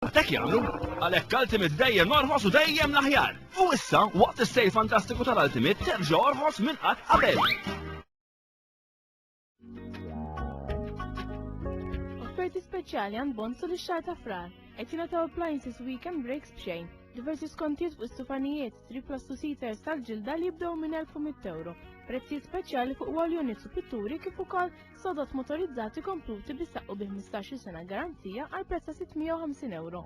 Hekk jagħmlu, għalhekk Ultimate dejjem orħos u dejjem l-aħjar! U issa, waqt is-sejl fantastiku tal-Ultimate, terġa' orħos minn qatt qabel! Offerti speċjali għand Bonsu li xahar ta' frar. Qed jingħataw appliances weekend breaks b'xejn, diversi skontijiet fuq is-sufanijiet, Riplastusites tal-ġilda li jibdew minn 1100 euro, prezzijiet speċjali fuq wall units u pitturi kif ukoll sodod motorizzati kompluti bi saqqu bi 15 sena garanzija għal prezz ta' 650 euro.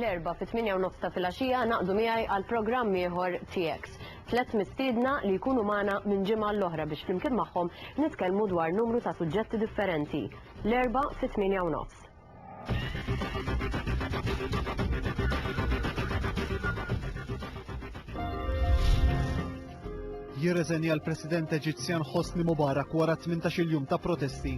L-Erbgħa fit-tminja u nofs ta' filgħaxija naqdu miegħi għal programm ieħor TX. Tlett mistiedna li jkunu magħna minn ġimgħa l-oħra biex flimkien magħhom nitkellmu dwar numru ta' suġġetti differenti. L-Erbgħa fit-tminja u nofs. jirreżenja l-President Eġizzjan Hosni Mubarak wara 18-il jum ta' protesti.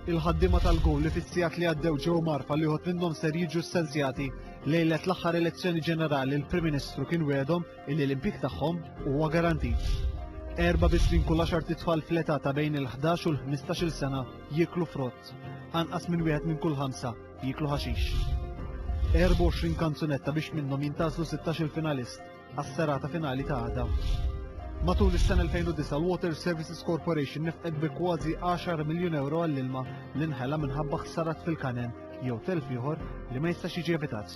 Il-ħaddima tal-gowl li fissijat li għaddew ġew marfa li jħod minnhom ser jiġu ssenzjati lejlet l-aħħar elezzjoni ġenerali l-Prim Ministru kien wedhom illi l-impik tagħhom huwa garantit. Erba bisrin kull għaxar titfal fl-età ta' bejn il-11 u l-15-il sena jiklu frott. Anqas minn wieħed minn kull ħamsa jieklu ħaxix. 24 kanzunetta biex minnhom jintgħażlu 16-il finalist għas-serata finali ta' għada. Matul is-sena 2009 l-Water Services Corporation nefqet bi kważi 10 miljun euro għall-ilma li nħela minħabba ħsarat fil-kanen jew telf ieħor li ma jistax jiġi evitat.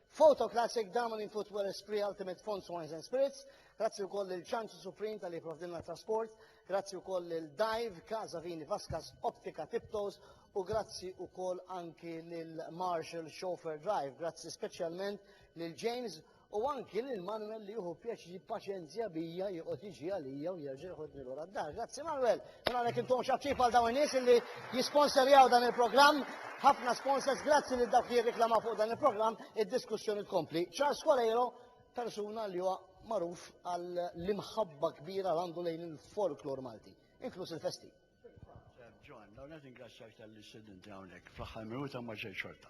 Photo Classic, Damen in Footwear Esprit Ultimate Fonts Wines and Spirits, grazzi wkoll lil Ċanċi Supreme tal-li jipprovdilna trasport, grazzi wkoll lil Dive, Casa Vini Vaskas, Optika Tiptoes u grazzi wkoll anki lil Marshall Chauffeur Drive, grazzi speċjalment lil James u anki lil Manuel li juhu pjaċi paċenzja bija joqgħod jiġi għalija u jerġa' jħodni lura d-dar. Grazzi Manuel! Mela għalhekk intuhom x'għattib għal dawn in-nies illi jisponserjaw dan il-programm. Ħafna sponsors grazzi lil dawk li jirriklamaw fuq dan il-programm, id-diskussjoni tkompli. Charles Coleiro, persuna li huwa magħruf għall-imħabba kbira li għandu lejn il-folklor Malti, inkluż il-festi. John, dawn qed ingrazzjak tal-li sedinti hawnhekk fl-aħħar minuta ma ġej xorta.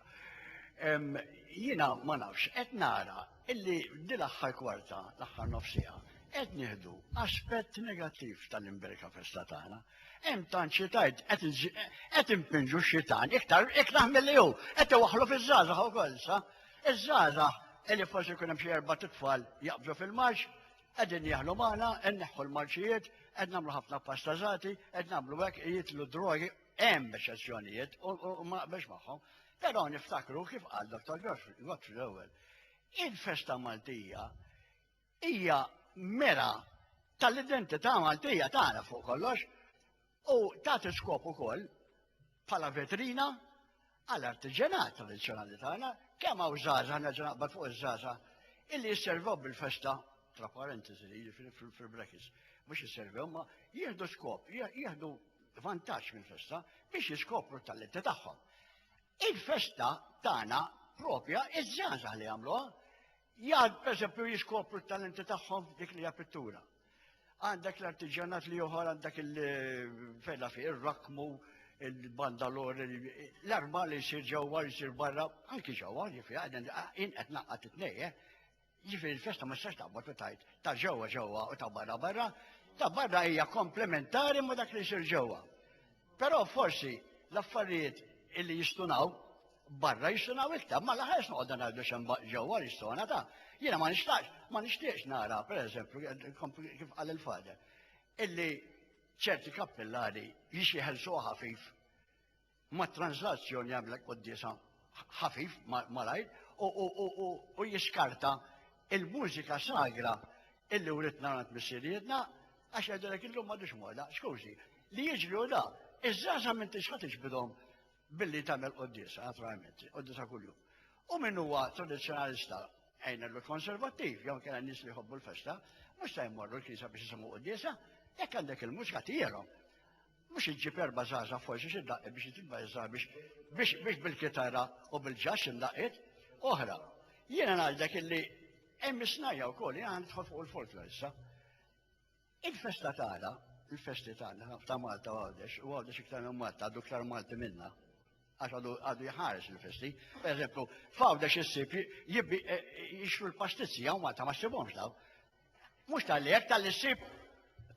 Jiena ma nafx, qed nara illi f'dil aħħar kwarta, l-aħħar nofs siegħa, qed nieħdu aspett negattiv tal-imberka festa tagħna. Hemm tant xi tgħid qed impinġu x-xitan iktar iktar milli hu, qed iwaħħlu fiż-żgħażagħ ukoll sa. Iż-żgħażagħ illi forsi jkun hemm xi erba' tfal jaqbżu fil-marċ, qegħdin jaħlu magħna, nneħħu l-marċijiet, qed nagħmlu ħafna pastażati, qed nagħmlu hekk jitlu drogi, hemm eċċezzjonijiet u ma biex magħhom. Però niftakru kif qal Dr. Godfrey l-ewwel, Il-festa Maltija hija mera tal-identità Maltija tagħna fuq kollox u tagħti skop ukoll bħala vetrina għal artiġenat tradizzjonali tagħna kemm hawn żgħażagħ nerġa' naqbad fuq iż-żgħażagħ illi jisservaw bil-festa tra parentesi li jiġifieri fil-brekis mhux jisservew ma jieħdu skop, jieħdu vantaġġ mill-festa biex jiskopru t-talenti tagħhom. Il-festa tagħna propja iż-żgħażagħ li jagħmluha. Jgħad pereżempju jiskopru t-talenti tagħhom f'dik li hija pittura. Għandek l-artiġjanat li joħor għandek il-fejla fi ir-rakmu, il-bandalor, l-arma li jsir ġewwa jsir barra, anki ġewwa, ġifi għadin inqed naqqat it-tnejje. Jiġifieri l-festa ma tistax taqbad u tgħid ta' ġewwa ġewwa u ta' barra barra, ta' barra hija komplementari ma' dak li jsir ġewwa. Però forsi l-affarijiet illi jistunaw barra jistunaw iktar, ma laħas noqgħodna ngħidu xem ġewwa jistona ta' jiena ma nixtaqx, ma nixtieqx nara, pereżempju, kif qal il-fader, illi ċerti kappillari jixi ħelsu ħafif ma transazzjoni jagħmlek qoddisa ħafif malajr u jiskarta il-mużika sagra illi uritna għand missirietna għax jgħidilek illum ma dux moda, skużi, li jiġri u da, iż-żaza minn tixħa tiġbidhom billi tagħmel qoddisa, naturalment, qoddisa kuljum. U min huwa tradizzjonalista għajna l-konservattiv, jew kena nis li jħobbu l-festa, mux ta' jmorru l-kisa biex jisamu qoddisa, jekk għandek il-mużika tijierom. Mhux iġġib erba' żgħażagħ forsi xi daqqiet biex jitibba iż-żgħar biex biex biex bil-kitarra u bil-ġass imdaqqiet oħra. Jiena ngħidlek illi hemm is-snajja wkoll, jiena nidħol fuq il-folklor issa. Il-festa tagħna, il-festi tagħna ta' Malta u Għawdex, u Għawdex iktar minn Malta, għadu iktar Malti minna għax għadu għadu jħares il-festi. Per eżempju, fawda xissib jibbi eh, jixru l-pastizzi għaw Malta ma xsibomx daw. Mhux talli hekk talli ssib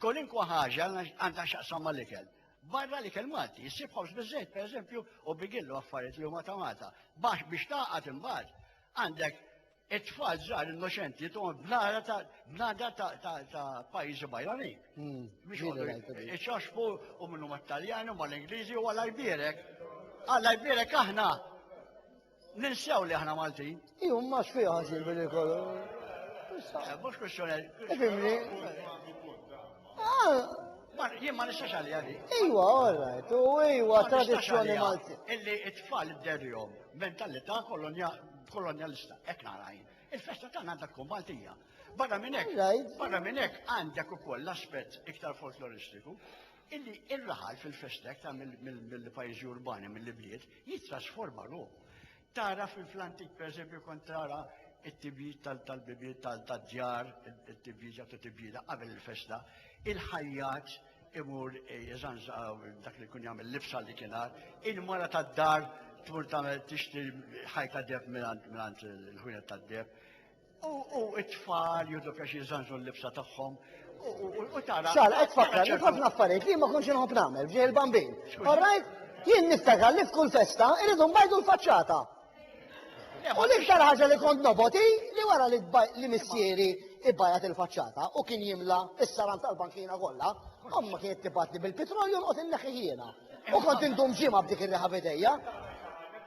kolinkwa ħaġa għandha x'aqsam mal-ikel. Barra li kell Malti, issib ħobż biżejt pereżempju u bigillu affarijiet li huma ta' Malta. Bax biex taqgħad imbagħad għandek it-tfal żgħar innoċenti tuħom bnara ta' bnada ta' pajjiżi bajrani. Hmm, biex iċoxfu u minnu mat-Taljani u mal-Ingliżi u għal-Ibirek. Għal-Ibirek aħna Ninsew li aħna Maltin. Iju, ma xfiħa ħażin billi kollu. Eh, mux kwestjoni. Eh, fimni. Ah. Jien ma nistax għalli għalli. Iwa, għorrajt, u iwa, tradizjoni malti. Illi it-tfal id-derjom, mentalità kolonjalista, ek narajn. Il-festa ta' għandha tkun Maltija. Barra minn hekk, barra minn hekk għandek ukoll l-aspett iktar folkloristiku illi il-raħal fil-festek ta' mill-pajjiżi urbani mill-ibliet jittrasforma ruħu. Tara fil-fl-antik pereżempju kont tara it-tibjid tal-bibiet tad-djar, it-tibjid jagħtu tibjida qabel il-festa, il-ħajjat imur jeżanża dak li kun jagħmel libsa li kien għad, il-mara tad-dar tmur tagħmel tixtri ħajta deb mingħand il-ħwienet tad-deb. U it-tfal jidlu kax jizzanġu l-libsa tagħhom. U tara. Xal, qed fakkar, ħafna affarijiet li ma konx inħobb nagħmel ġej il-bambin. All right? Jien niftakar li f'kull festa irridu mbajdu l-faċċata. U l-iktar ħaġa li kont noboti li wara li missieri ibbajat il-faċċata u kien jimla is-saran tal-bankina kollha, omma kienet tibatni bil-petrolju nqgħod inneħħi jiena. U kont indum ġimgħa b'dik ir-riħa bidejja.